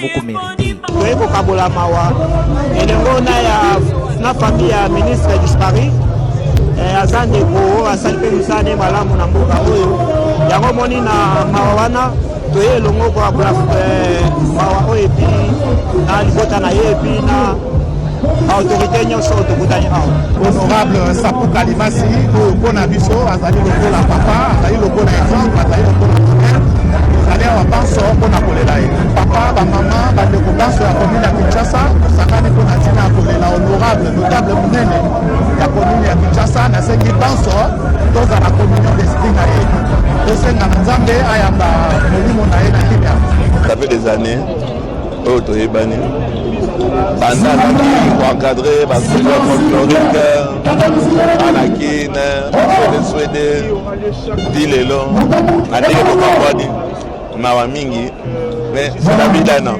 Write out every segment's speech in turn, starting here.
boko merite toye kokabola mawa elengo na ya na famille ya ministre disparu eh, aza ndeko oyo asali mpe mosala ne malamu na mboka oyo yango omoni na mawa wana toye elongo kokabola eh, mawa oyo epi na libota na ye epi na autorité nyonso tokutani awa honorable sapu kalimasi oyo mpo na biso azali lokola papa azali lokola exemple azali lokola azali awa banso mpo na kolela ye papa bamama bandeko banso ya komine ya kinshasa tosangani mpo na ntina ya kolela honorable notable monene ya komine ya kinshasa nasengi banso tozala communion d'esprit na ye tosenga na nzambe ayamba molimo na ye na kimia ça fait des années oyo toyebani banda alaki koencadre basoda folklorique ana kine swedeswede ti lelo na ndenge tokabwani mawa mingi me sodabidana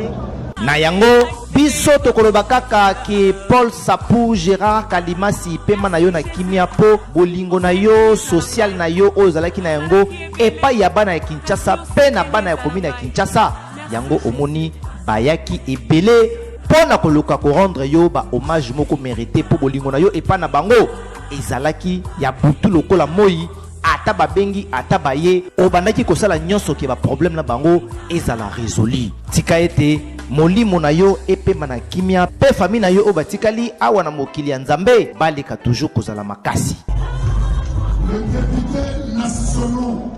na yango biso tokoloba kaka ke paul sapu gérard kalimasi pema na yo na kimia mpo bolingo na yo sosiale na yo oyo ozalaki na yango epai ya bana ya kinshasa mpe na bana ya komina ya kinshasa Yango omoni bayaki ebele mpo na koluka ko rendre yo ba hommage moko merite mpo bolingo na yo epai na bango ezalaki ya butu lokola moi ata babengi ata baye obandaki kosala nyonso ke ba problème na bango ezala resoli tika ete molimo na yo epema na kimia mpe famille na yo oyo batikali awa na mokili ya nzambe baleka toujours kozala makasi